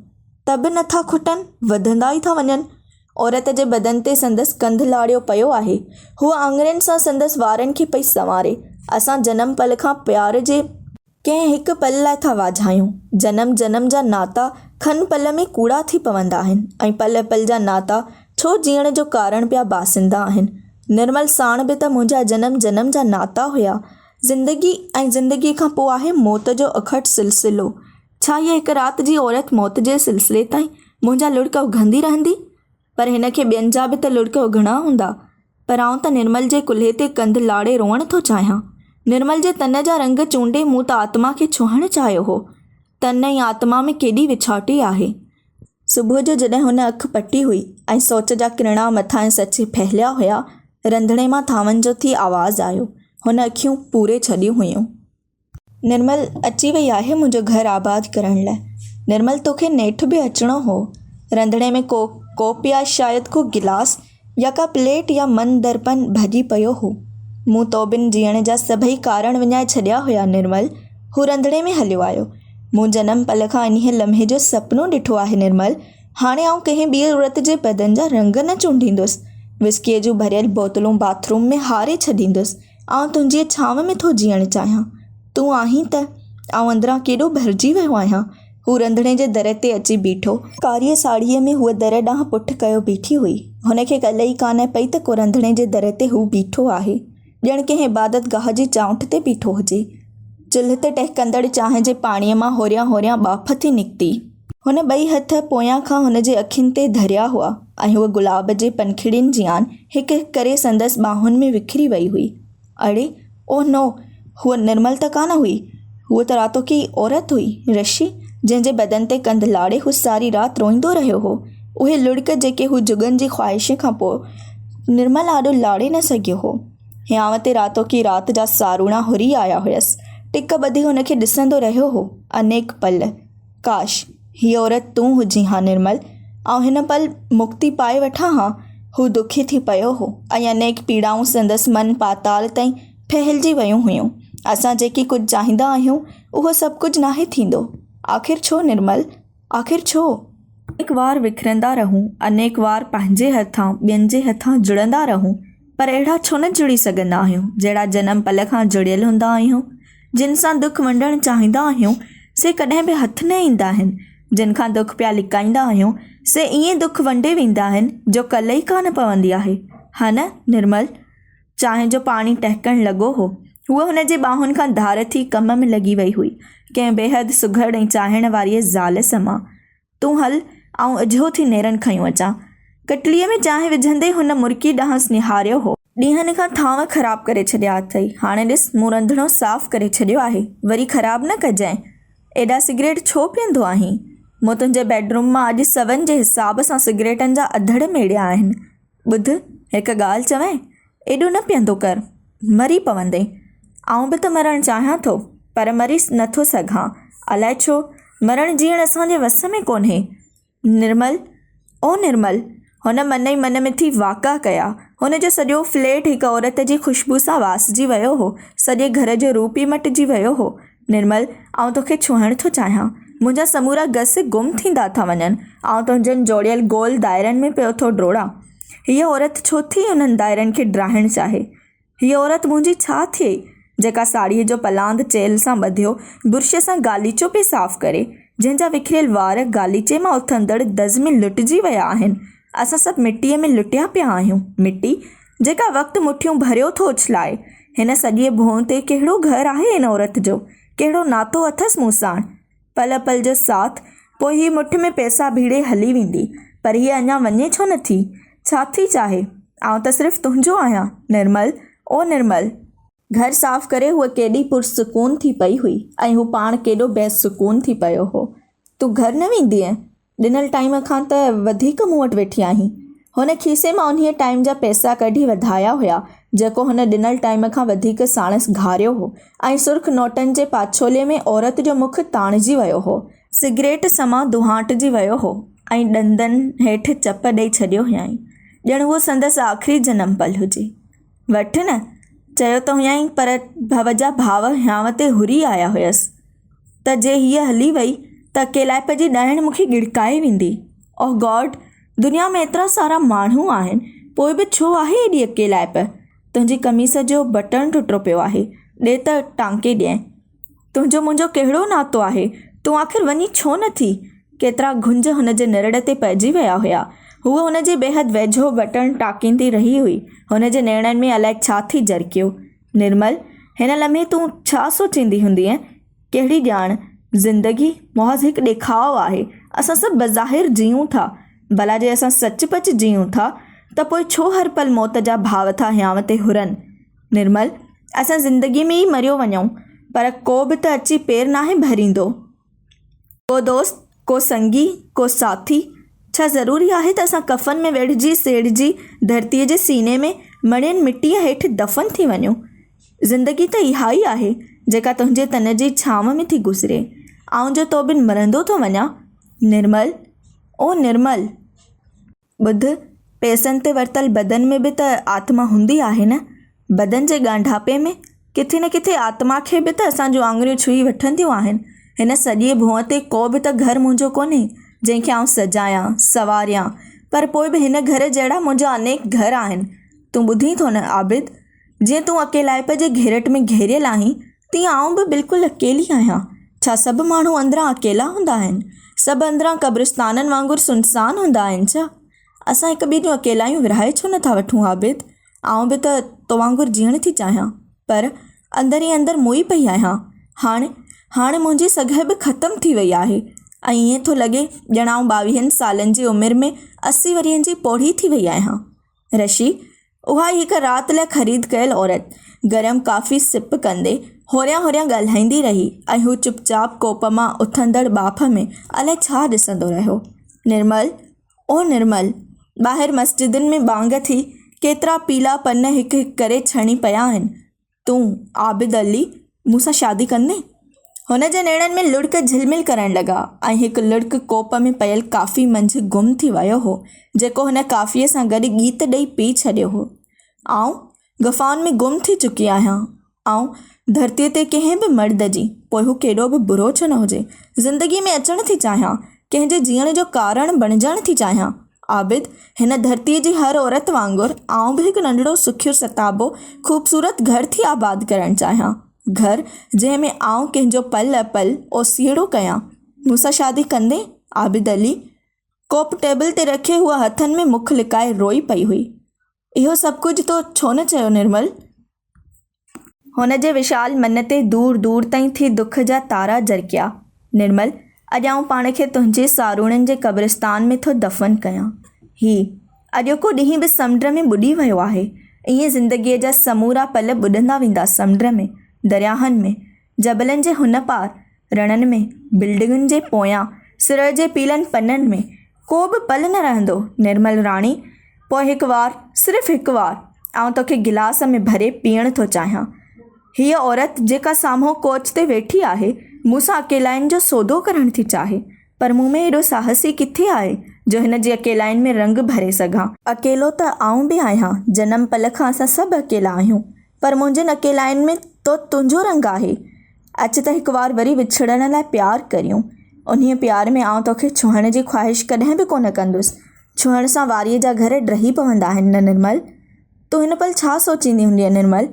ته به نه ٿا کٽن، وڌندا ئي ٿا وڃن. عورت جي بدن تي سندس ڪنڌ لاڙيو پيو آهي. هوء آڱرين سان سندس وارن کي پئي سنواري. اسان جنم پل کان پيار جي. ڪنهن هڪ پل لاء ٿا واجهايون. جنم جنم جا ناتا کن پل ۾ ڪوڙا ٿي پوندا آهن ۽ پل پل جا ناتا ڇو جيئڻ جو ڪارڻ پيا باسندا آهن. نرمل ساڻ به ته منهنجا جنم جنم جا ناتا هيا. زندگي ۽ زندگي کان پوء آهي موت جو اکٽ سلسلو. ڇا هيء هڪ رات جي عورت موت جي سلسلي تائين منهنجا لڙڪ اگهندي رهندي؟ پر هن کي ٻين جا به ته لڙڪ اگهڻا هوندا. پر آئون ته نرمل جي ڪلهي تي ڪنڌ لاڙي روئڻ ٿو چاهيان. نرمل جي تن جا رنگ چونڊي مون ته آتما کي ڇهڻ چاهيو هو. تن ۽ آتما ۾ ڪيڏي وڇاٽي آهي. صبح جو جڏهن هن اک پٽي هئي ۽ سوچ جا ڪرڻا مٿانهين سچي ڦهليا هيا، رنڌڻي مان ٿانون جو ٿي آواز آيو. هن اکيون پوري ڇڏيون هيون. نرمل، اچي وئي آهي منهنجو گهر آباد ڪرڻ لاء. نرمل، توکي نيٺ به اچڻو هو. رنڌڻي ۾ ڪو ڪوپ يا شايد ڪو گلاس يا ڪا پليٽ يا من درپن ڀڄي پيو هو. مون تو بن جيئڻ جا سڀئي ڪارڻ وڃائي ڇڏيا هيا نرمل. هو رنڌڻي ۾ هليو آيو. مون جنم پل کان انهيء لمحي جو سپنو ڏٺو آهي نرمل. هاڻي آئون ڪنهن ٻيء عورت جي بدن جا رنگ نه چونڊيندس. وسڪيء جون ڀريل بوتلون باٿ روم ۾ هاري ڇڏيندس. آئون تنهنجيء ڇانو ۾ ٿو جيئڻ چاهيان. تون آهين ته آئون اندران ڪيڏو ڀرجي ويو آهيان. هو رنڌڻي جي در تي اچي بيٺو. ڪاريء ساڙهيء ۾ هوء در ڏانهن پٺ ڪيو بيٺي هئي. هن کي ڪل ئي ڪانه پئي ته ڪو رنڌڻي جي در تي هو بيٺو آهي. ڄڻ ڪنهن عبادت گاهه جي چانئٺ تي بيٺو هجي. چلهه تي ٽهڪندڙ چانهه جي پاڻيء مان هوريان هوريان ٻاڦ ٿي نڪتي. هن ٻئي هٿ پويان کان هن جي اکين تي ڌريا هئا ۽ هوء گلاب جي پنکڙين جيان هڪ هڪ ڪري سندس ٻانهن ۾ وکري وئي هئي. اڙي! اوه نو! هوء نرمل ته ڪانه هئي. هوء ته راتوڪي عورت هئي، رشي، جنهن جي بدن تي ڪنڌ لاڙي هو ساري رات روئيندو رهيو هو. اهي لڙڪ جيڪي هو جڳن جي خواهشين کان پوء نرمل آڏو لاڙي نه سگهيو هو. هيانء تي راتوڪي رات جا ساروڻا هري آيا هيس. ٽڪ ٻڌي هن کي ڏسندو رهيو هو، انيڪ پل. ڪاش! هيء عورت تون هجين ها نرمل! آئون هن پل مڪتي پائي وٺان ها. هو دکي ٿي پيو هو ۽ انيڪ پيڙائون سندس من پاتال تائين ڦهلجي ويون هيون. اسان جيڪي ڪجهه چاهيندا آهيون، اهو سڀ ڪجهه ناهي ٿيندو. آخر ڇو نرمل؟ آخر ڇو؟ انيڪ وار وکرندا رهون، انيڪ وار پنهنجي هٿان ٻين جي هٿان جڙندا رهون، پر اهڙا ڇو نه جڙي سگهندا آهيون، جهڙا جنم پل کان جڙيل هوندا آهيون؟ جن سان دک ونڊڻ چاهيندا آهيون، سي ڪڏهن به هٿ نه ايندا آهن. جن کان دک پيا لڪائيندا آهيون، سي ائين دک ونڊي ويندا آهن، جو ڪل ئي ڪانه پوندي آهي. ها نه نرمل؟ چانهه جو پاڻي ٽهڪڻ لڳو هو. هوء هن جي ٻانهن کان ڌار ٿي ڪم ۾ لڳي وئي هئي، ڪنهن بيحد سگهڙ ۽ چاهيڻ واريء زال سمان. تون هل، آئون اجهو ٿي نيرن کنيون اچان. ڪٽليء ۾ چانهه وجهندي هن مرڪي ڏانهنس نهاريو هو. ڏينهن کان ٿانء خراب ڪري ڇڏيا اٿئي، هاڻي ڏس، مون رنڌڻو صاف ڪري ڇڏيو آهي، وري خراب نه ڪجانء. ايڏا سگريٽ ڇو پيئندو آهين؟ مون تنهنجي بيڊروم مان اڄ سون جي حساب سان سگريٽن جا اڌڙ ميڙيا آهن. ٻڌ هڪ ڳالهه چوين، ايڏو نه پيهندو ڪر، مري پوندين. آئون به ته مرڻ چاهيان ٿو، پر مري نه ٿو سگهان. الائي ڇو؟ مرڻ جيئڻ اسان جي وس ۾ ڪونهي. نرمل، او نرمل! هن من ئي من ۾ ٿي واڪا ڪيا. هن جو سڄو فليٽ هڪ عورت جي خوشبوء سان واسجي ويو هو. سڄي گهر جو روپ ئي مٽجي ويو هو. نرمل، آئون توکي ڇهڻ ٿو چاهيان. منهنجا سمورا گس گم ٿيندا ٿا وڃن. آئون تنهنجن جوڙيل گول دائرن ۾ پيو ٿو ڊوڙان. هيء عورت ڇو ٿي انهن دائرن کي ڊاهڻ چاهي؟ هيء عورت منهنجي ڇا ٿئي، جيڪا ساڙهيء جو پلاند چيلهه سان ٻڌيو برشيء سان غاليچو پئي صاف ڪري، جنهن جا وکريل وار غاليچي مان اٿندڙ دز ۾ لٽجي ويا آهن. اسان سڀ مٽيء ۾ لٽيا پيا آهيون. مٽي، جيڪا وقت مٺيون ڀريو ٿو اڇلائي. هن سڄيء ڀونء تي ڪهڙو گهر آهي ان عورت جو؟ ڪهڙو ناتو اٿس مون ساڻ؟ پل پل جو ساٿ، پوء هيء مٺ ۾ پئسا ڀيڙي هلي ويندي. پر هيء اڃا وڃي ڇو نه ٿي؟ ڇا ٿي چاهي؟ آئون ته صرف تنهنجو آهيان نرمل، او نرمل! گهر صاف ڪري هوء ڪيڏي پرسڪون ٿي پئي هئي ۽ هو پاڻ ڪيڏو بي سڪون ٿي پيو هو. تون گهر نه ويندينء؟ ڏنل ٽائيم کان ته وڌيڪ مون وٽ ويٺي آهين. هن کيسي مان انهيء ٽائيم جا پئسا ڪڍي وڌايا هيا، جيڪو هن ڏنل ٽائيم کان وڌيڪ ساڻس گهاريو هو ۽ سرخ نوٽن جي پاڇولي ۾ عورت جو مک تاڻجي ويو هو. سگريٽ سماء دونهاٽجي ويو هو ۽ ڏندن هيٺ چپ ڏئي ڇڏيو هيائين، ڄڻ اهو سندس آخري جنم پل هجي. وٺ نه! چيو ته هيائين پر ڀؤ جا ڀاء هيانء تي هري آيا هيس ته جي هيء هلي وئي ته اڪيلائپ جي ڏائڻ مون کي ڳڙڪائي ويندي. Oh God! دنيا ۾ ايترا سارا ماڻهو آهن، پوء به ڇو آهي ايڏي اڪيلائپ؟ تنهنجي قميص جو بٽڻ ٽٽو پيو آهي، ڏي ته ٽانڪي ڏينء. تنهنجو منهنجو ڪهڙو ناتو آهي؟ تون آخر وڃين ڇو نه ٿي؟ ڪيترا گهنج هن جي نرڙ تي پئجي ويا هيا. هوء هن جي بيحد ويجهو بٽڻ ٽاڪيندي رهي هئي. هن جي نيڻن ۾ الائي ڇا ٿي جرڪيو. نرمل! هن لمحي تون ڇا سوچيندي هوندينء؟ ڪهڙي ڄاڻ؟ زندگي محض هڪ ڏيکاء آهي. اسان سڀ بظاهر جيئون ٿا. ڀلا جي اسان سچ پچ جيئون ٿا ته پوء ڇو هر پل موت جا ڀاء ٿا هيانء تي هرن؟ نرمل، اسان زندگيء ۾ ئي مريو وڃون، پر ڪو به ته اچي پير ناهي ڀريندو. ڪو دوست، ڪو سنگي، ڪو ساٿي، ڇا ضروري آهي ته اسان ڪفن ۾ ويڙهجي سيڙهجي ڌرتيء جي سيني ۾ مڙيل مٽيء هيٺ دفن ٿي وڃون. زندگي ته اها ئي آهي، جيڪا تنهنجي تن جي ڇانو ۾ ٿي گذري. آئون جو تو بن مرندو ٿو وڃان. نرمل، او نرمل! ٻڌ، پئسن تي ورتل بدن ۾ به ته آتما هوندي آهي نه؟ بدن جي ڳانڍاپي ۾ ڪٿي نه ڪٿي آتما کي به ته اسان جون آڱريون ڇهي وٺنديون آهن. هن سڄيء ڀونء تي ڪو به ته گهر منهنجو ڪونهي، جنهن کي آئون سجايان، سنواريان. پر پوء به هن گهر جهڙا منهنجا انيڪ گهر آهن. تون ٻڌين ٿو نه عابد! جيئن تون اڪيلائپ جي گهيرٽ ۾ گهيريل آهين، تيئن آئون به بلڪل اڪيلي آهيان. ڇا سڀ ماڻهو اندران اڪيلا هوندا آهن؟ سڀ اندران قبرستانن وانگر سنسان هوندا آهن ڇا؟ اسان هڪ ٻئي جون اڪيلايون ورهائي ڇو نه ٿا وٺون عابد؟ آئون به ته تو وانگر جيئڻ ٿي چاهيان، پر اندر ئي اندر موئي پئي آهيان. هاڻ، هاڻ منهنجي سگهه به ختم ٿي وئي آهي ۽ ائين ٿو لڳي ڄڻ آئون ٻاويهن سالن جي عمر ۾ اسي ورهين جي پوڙهي ٿي وئي آهيان. رشي! اها ئي هڪ رات لاء خريد ڪيل عورت. گرم ڪافي سپ ڪندي هوريان هوريان ڳالهائيندي رهي ۽ هو چپ چاپ ڪوپ مان اٿندڙ ٻاڦ ۾ الائي ڇا ڏسندو رهيو. نرمل! او نرمل! ٻاهر مسجدن ۾ ٻانگ ٿي، ڪيترا پيلا پن هڪ هڪ ڪري ڇڻي پيا آهن. تون، عابد علي، مون سان شادي ڪندين؟ هن جي نيڻن ۾ لڙڪ جهلمل ڪرڻ لڳا ۽ هڪ لڙڪ ڪوپ ۾ پيل ڪافي منجهه گم ٿي ويو هو، جيڪو هن ڪافيء سان گڏ ڳيت ڏئي پي ڇڏيو هو. آئون غفائن ۾ گم ٿي چڪي آهيان. آئون ڌرتيء تي ڪنهن به مرد جي، پوء هو ڪيڏو به برو ڇو نه هجي، زندگيء ۾ اچڻ ٿي چاهيان، ڪنهن جي جيئڻ جو ڪارڻ بڻجڻ ٿي چاهيان. عابد، هن ڌرتيء جي هر عورت وانگر، آئون به هڪ ننڍڙو سکيو ستابو خوبصورت گهر ٿي آباد ڪرڻ چاهيان. گهر، جنهن ۾ آئون ڪنهن جو پل پل اوسيئڙو ڪيان. مون سان شادي ڪندين؟ عابد علي، ڪوپ ٽيبل تي رکي هوء هٿن ۾ مک لڪائي روئي پئي هئي. اهو سڀ ڪجهه تو ڇو نه چيو نرمل؟ هن جي وشال من تي دور دور تائين ٿي دک جا تارا جرڪيا. نرمل! اڄ آئون پاڻ کي تنهنجي ساروڻين جي قبرستان ۾ ٿو دفن ڪيان. هي اڄوڪو ڏينهن به سمنڊ ۾ ٻڏي ويو آهي. ائين زندگيء جا سمورا پل ٻڏندا ويندا سمنڊ ۾، درياهن ۾. جبلن جي هن پار رڻن ۾، بلڊنگن جي پويان سرء جي پيلن پنن ۾، ڪو به پل نه رهندو نرمل راڻي! پوء هڪ وار، صرف هڪ وار، آئون توکي گلاس ۾ ڀري پيئڻ ٿو چاهيان. هيء عورت جيڪا سامهون ڪوچ تي ويٺي آهي، مون سان اڪيلائين جو سودو ڪرڻ ٿي چاهي، پر مون ۾ ايڏو ساهس ئي ڪٿي آهي جو هن جي اڪيلائين ۾ رنگ ڀري سگهان. اڪيلو ته آئون به آهيان، جنم پل کان اسان سڀ اڪيلا آهيون، پر منهنجن اڪيلائين ۾ تو تنهنجو رنگ آهي. اچ ته هڪ وار وري وڇڙڻ لاء پيار ڪريون. انهيء پيار ۾ آئون توکي ڇهڻ جي خواهش ڪڏهن به ڪونه ڪندس. ڇهڻ سان واريء جا گهر ڊهي پوندا آهن نه نرمل؟ تون هن پل ڇا سوچيندي هوندينء نرمل؟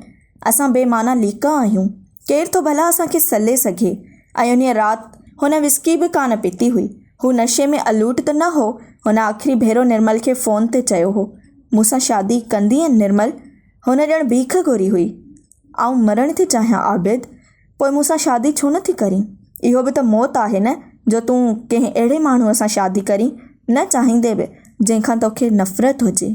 اسان بي معنيٰ ليڪا آهيون. ڪير ٿو ڀلا اسان کي سلي سگهي؟ ۽ انهيء رات هن وسڪي به ڪانه پتي هئي. هو نشي ۾ الوٽ ته نه هو. هن آخري ڀيرو نرمل کي فون تي چيو هو، مون سان شادي ڪندينء نرمل؟ هن ڄڻ ڀيک گهري هئي. آئون مرڻ ٿي چاهيان عابد، پوء مون سان شادي ڇو نه ٿي ڪرين؟ اهو به ته موت آهي نه جو تون ڪنهن اهڙي ماڻهوء سان شادي ڪرين، نه چاهيندي به، جنهن کان توکي نفرت هجي.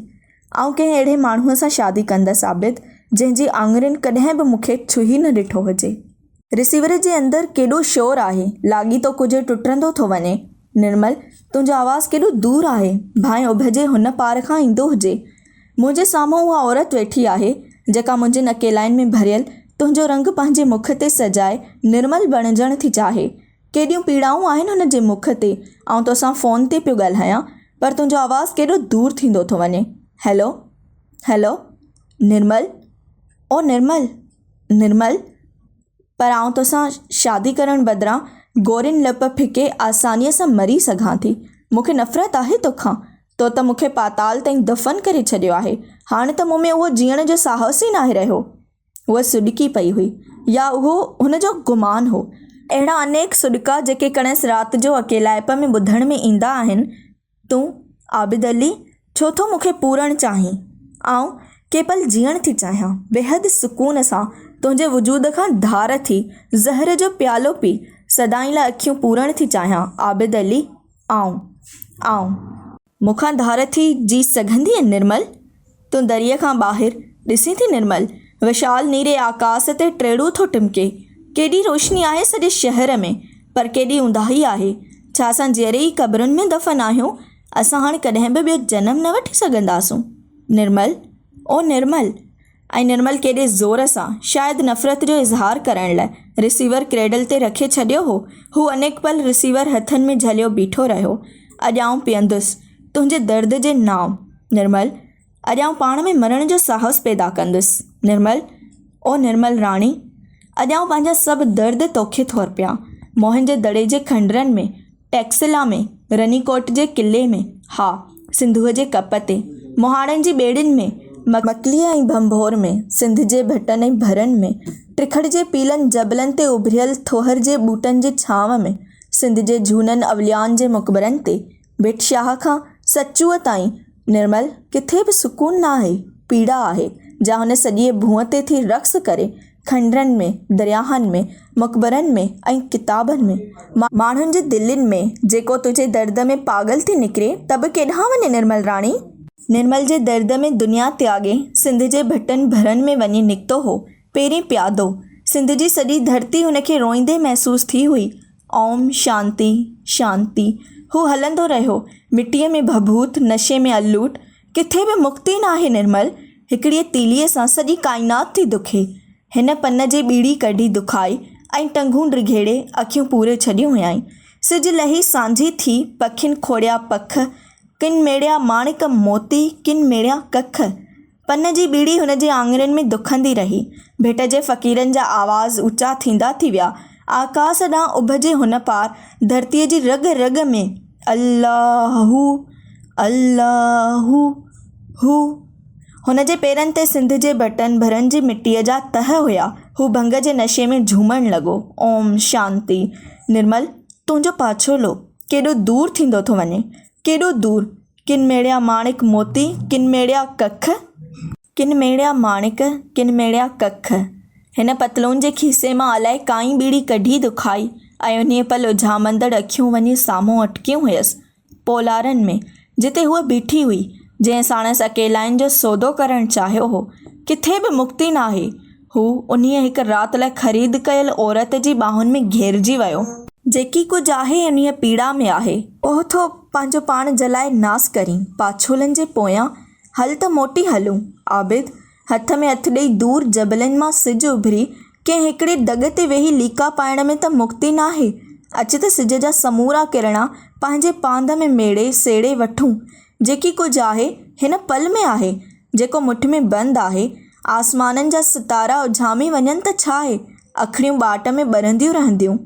آئون ڪنهن اهڙي ماڻهوء سان شادي ڪندس عابد، جنهن جي آڱرين ڪڏهن به مون کي ڇهي نه ڏٺو هجي. رسيور جي اندر ڪيڏو شور آهي، لاڳيتو ڪجهه ٽٽندو ٿو وڃي. نرمل، تنهنجو آواز ڪيڏو دور آهي، ڀانئن اڀ جي هن پار کان ايندو هجي. منهنجي سامهون اها عورت ويٺي آهي، جيڪا منهنجين اڪيلائين ۾ ڀريل تنهنجو رنگ پنهنجي مک تي سجائي نرمل بڻجڻ ٿي چاهي. ڪيڏيون پيڙائون آهن هن جي مک تي. آئون توسان فون تي پيو ڳالهايان، پر تنهنجو آواز ڪيڏو دور ٿيندو ٿو وڃي. هيلو. هيلو. نرمل. او نرمل. نرمل! پر آئون توسان شادي ڪرڻ بدران گورين لپ ڦڪي آسانيء سان مري سگهان ٿي. مون کي نفرت آهي توکان. تو ته مون کي پاتال تائين دفن ڪري ڇڏيو آهي. هاڻ ته مون ۾ اهو جيئڻ جو ساهس ئي ناهي رهيو. هوء سڏڪي پئي هئي. يا اهو هن جو گمان هو. اهڙا انيڪ سڏڪا جيڪي ڪڻس رات جو اڪيلائپ ۾ ٻڌڻ ۾ ايندا آهن، تون عابد علي ڇو ٿو مون کي پورڻ چاهين؟ آئون ڪي پل جيئڻ ٿي چاهيان، بيحد سڪون سان تنهنجي وجود کان ڌار ٿي زهر جو پيالو پي سدائين لاء اکيون پورڻ ٿي چاهيان عابد علي آئون، آئون. مون کان ڌار ٿي جي سگهندينء نرمل؟ تون دريء کان ٻاهر ڏسين ٿي نرمل؟ وشال نيري آڪاس تي ٽيڙو ٿو ٽمڪي. ڪيڏي روشني آهي سڄي شهر ۾، پر ڪيڏي اونداهي آهي. ڇا اسان جيئري ئي قبرن ۾ دفن آهيون؟ اسان هاڻ ڪڏهن به ٻيو جنم نه وٺي سگهنداسون. نرمل! او نرمل! ۽ نرمل ڪيڏي زور سان، شايد نفرت جو اظهار ڪرڻ لاء، رسيور ڪريڊل تي رکي ڇڏيو هو. هو انيڪ پل رسيور هٿن ۾ جهليو بيٺو رهيو. اڄ آئون پيئندس. تنهنجي درد جي نام نرمل! اڄ آئون پاڻ ۾ مرڻ جو ساهس پيدا ڪندس نرمل! او نرمل راڻي! اڄ آئون پنهنجا سڀ درد توکي ٿو ارپيان. موهن جي دڙي جي کنڊرن ۾، ٽئڪسلا ۾، رني ڪوٽ جي قلعي ۾، ها! سنڌوء جي ڪپ تي، مهاڻن جي ٻيڙين ۾، مڪليء ۽ ڀنڀور ۾، سنڌ جي ڀٽن ۽ ڀرن ۾، ٽرکڙ جي پيلن جبلن تي اڀريل ٿوهر جي ٻوٽن جي ڇانو ۾، سنڌ جي جهونن اوليائن جي مقبرن تي، ڀٽ شاهه کان سچوء تائين نرمل ڪٿي به سڪون ناهي، پيڙا آهي، جا هن سڄيء ڀونء تي ٿي رقص ڪري، کنڊرن ۾، درياهن ۾، مقبرن ۾ ۽ ڪتابن ۾، ماڻهن جي دلين ۾، جيڪو تنهنجي درد ۾ پاڳل ٿي نڪري ته به ڪيڏانهن وڃي نرمل راڻي؟ نرمل جي درد ۾ دنيا تياڳي سنڌ جي ڀٽن ڀرن ۾ وڃي نڪتو هو، پيرين پيادو، سنڌ جي سڄي ڌرتي هن کي روئيندي محسوس ٿي هئي. اوم شانتي شانتي. هو هلندو رهيو، مٽيء ۾ ڀڀوت، نشي ۾ الوٽ. ڪٿي به مڪتي ناهي نرمل. هڪڙيء تيليء سان سڄي ڪائنات ٿي دکي. هن پن جي ٻيڙي ڪڍي دکائي ۽ ٽنگون ڊگهيڙي اکيون پوري ڇڏيون هيائين. سج لهي سانجهي ٿي، پکين کوڙيا پک، ڪن ميڙيا ماڻڪ موتي، ڪن ميڙيا ڪک. پن جي ٻيڙي هن جي آڱرين ۾ دکندي رهي. ڀٽ جي فقيرن جا آواز اوچا ٿيندا ٿي ويا. آڪاس ڏانهن اڀ جي هن پار ڌرتيء جي رڳ رڳ ۾ الله هو، الله هو. هن جي پيرن تي سنڌ جي ڀٽن ڀرن جي مٽيء جا تهه هيا. هو ڀنگ جي نشي ۾ جهومڻ لڳو. اوم شانتي. نرمل، تنهنجو پاڇولو ڪيڏو دور ٿيندو ٿو وڃي. ڪيڏو دور، ڪن ميڙيا ماڻڪ موتي، ڪن ميڙيا ڪک. ڪن ميڙيا ماڻڪ، ڪن ميڙيا ڪک. هن پتلون جي کيسي مان الائي ڪائين ٻيڙي ڪڍي دکائي ۽ انهيء پل اجهامندڙ اکيون وڃي سامهون اٽڪيون هيس، پولارن ۾، جتي هوء بيٺي هئي، جنهن ساڻس اڪيلائين جو سودو ڪرڻ چاهيو هو، ڪٿي به مڪتي ناهي، هو انهيء هڪ رات لاء خريد ڪيل عورت جي ٻانهن ۾ گهيرجي ويو. جيڪي ڪجهه آهي انهيء پيڙا ۾ آهي. اهو ٿو پنهنجو پاڻ جلائي ناس ڪرين. پاڇولن جي پويان هل ته موٽي هلون. عابد، هٿ ۾ هٿ ڏيئي دور جبلن مان سج اڀري ڪنهن هڪڙي دڳ تي ويهي ليڪا پائڻ ۾ ته مڪتي ناهي. اچ ته سج جا سمورا ڪرڻا پنهنجي پانڌ ۾ ميڙي سيڙي وٺون. جيڪي ڪجهه آهي هن پل ۾ آهي. جيڪو مٺ ۾ بند آهي. آسمانن جا ستارا اجهامي وڃن ته ڇا اهي اکڙيون ٻاٽ ۾ ٻرنديون رهنديون؟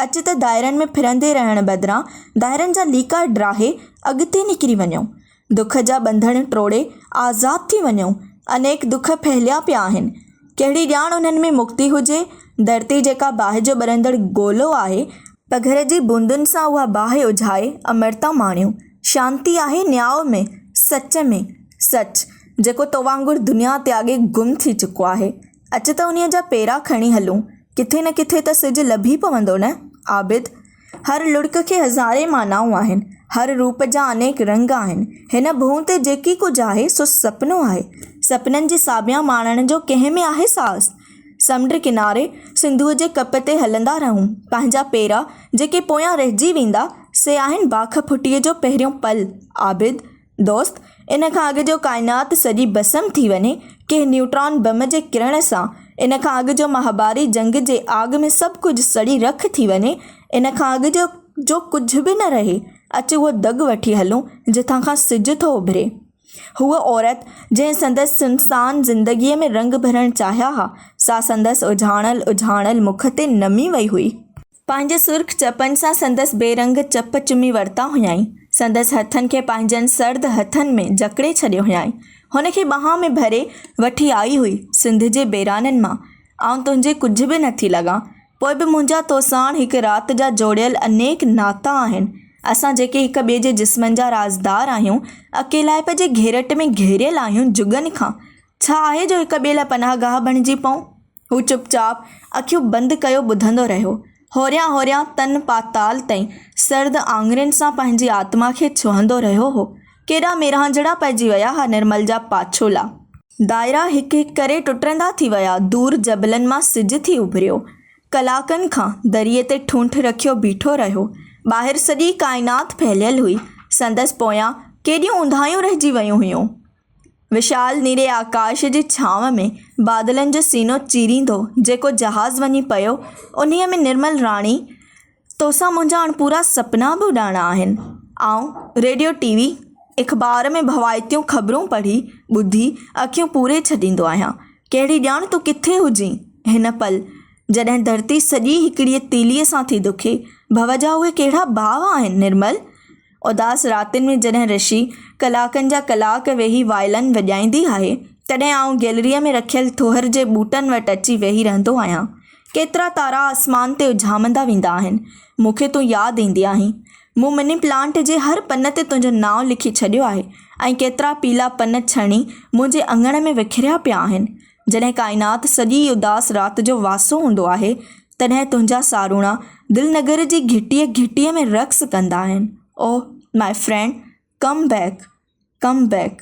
اچ ته دائرن ۾ ڦرندي رهڻ بدران دائرن جا ليڪا ڊاهي اڳتي نڪري وڃون. دک جا ٻنڌڻ ٽوڙي آزاد ٿي وڃون. انيڪ دک ڦهليا پيا آهن. ڪهڙي ڄاڻ انهن ۾ مڪتي هجي. ڌرتي جيڪا باهه جو ٻرندڙ گولو آهي، پگهر جي بوندن سان اها باهه اجهائي امرتا ماڻيو. شانتي آهي نياء ۾، سچ ۾، سچ، جيڪو تو وانگر دنيا تياڳي گم ٿي چڪو آهي. اچ ته انهيء جا پيرا کڻي هلون. ڪٿي نه ڪٿي ته سج لڀي پوندو نه، عابد! هر لڙڪ کي هزارين معنائون آهن، هر روپ جا انيڪ رنگ آهن. هن ڀونء تي جيڪي ڪجهه آهي، سو سپنو آهي. سپنن جي ساڀيان ماڻڻ جو ڪنهن ۾ آهي ساز؟ سمنڊ ڪناري سنڌوء جي ڪپ تي هلندا رهون. پنهنجا پيرا جيڪي پويان رهجي ويندا، سي آهن باک ڦٽيء جو پهريون پل. عابد، دوست! ان کان اڳ جو ڪائنات سڄي ڀسم ٿي وڃي، ڪنهن نيوٽران بم جي ڪرڻ سان، ان کان اڳ جو مهاڀاري جنگ جي آڳ ۾ سڀ ڪجهه سڙي رک ٿي وڃي، ان کان اڳ جو جو ڪجهه به نه رهي، اچ اهو دڳ وٺي هلون، جتان کان سج ٿو اڀري. هوء عورت، جنهن سندس سنسان زندگيء ۾ رنگ ڀرڻ چاهيا ها، سا سندس اجهاڻل اجهاڻل مک تي نمي وئي هئي. پنهنجي سرخ چپن سان سندس بي رنگ چپ چمي ورتا هيائين. سندس هٿن کي پنهنجن سرد هٿن ۾ جڪڙي ڇڏيو هيائين. هن کي ٻانهن ۾ ڀري وٺي آئي هئي، سنڌ جي بيرانن مان، آئون تنهنجي ڪجهه به نٿي لڳان. پوء به منهنجا تو ساڻ هڪ رات جا جوڙيل انيڪ ناتا آهن. اسان جيڪي هڪ ٻئي جي جسمن جا رازدار آهيون، اڪيلائپ جي گهيرٽ ۾ گهيريل آهيون جڳن کان، ڇا آهي جو هڪ ٻئي لاء پناهگاهه بڻجي پئون؟ هو چپ چاپ اکيون بند ڪيو ٻڌندو رهيو. هوريان هوريان تن پاتال تائين سرد آڱرين سان پنهنجي آتما کي ڇهندو رهيو هو. ڪيڏا ميرهانجهڙا پئجي ويا ها نرمل جا پاڇولا. دائرا هڪ هڪ ڪري ٽٽندا ٿي ويا، دور جبلن مان سج ٿي اڀريو. ڪلاڪن کان دريء تي ٺونٺ رکيو بيٺو رهيو. ٻاهر سڄي ڪائنات ڦهليل هئي. سندس پويان ڪيڏيون اونداهيون رهجي ويون هيون. وشال نيري آڪاش جي ڇانو ۾ بادلن جو سينو چيريندو جيڪو جهاز وڃي پيو، انهيء ۾ نرمل راڻي، توسان منهنجا هاڻ پورا سپنا به اڏائڻا آهن. آئون ريڊيو ٽي وي اخبار ۾ ڀوائتيون خبرون پڙهي ٻڌي اکيون پوري ڇڏيندو آهيان. ڪهڙي ڄاڻ تون ڪٿي هجين هن پل جڏهن ڌرتي سڄي هڪڙيء تيليء سان ٿي دکي. ڀو جا اهي ڪهڙا ڀاء آهن نرمل! اداس راتين ۾ جڏهن رشي ڪلاڪن جا ڪلاڪ ويهي وائلن وڄائيندي آهي، تڏهن آئون گئلريء ۾ رکيل ٿوهر جي ٻوٽن وٽ اچي ويهي رهندو آهيان. ڪيترا تارا آسمان تي اجهامندا ويندا آهن. مون کي تون ياد ايندي آهين. مون مني پلانٽ جي هر پن تي تنهنجو نانء لکي ڇڏيو آهي ۽ ڪيترا پيلا پن ڇڻي منهنجي اڱڻ ۾ وکريا پيا آهن. جڏهن ڪائنات سڄي اداس رات جو واسو هوندو آهي، تڏهن تنهنجا ساروڻا دل نگر جي گهٽيء گهٽيء ۾ رقص ڪندا آهن. Oh my friend, come back, come back.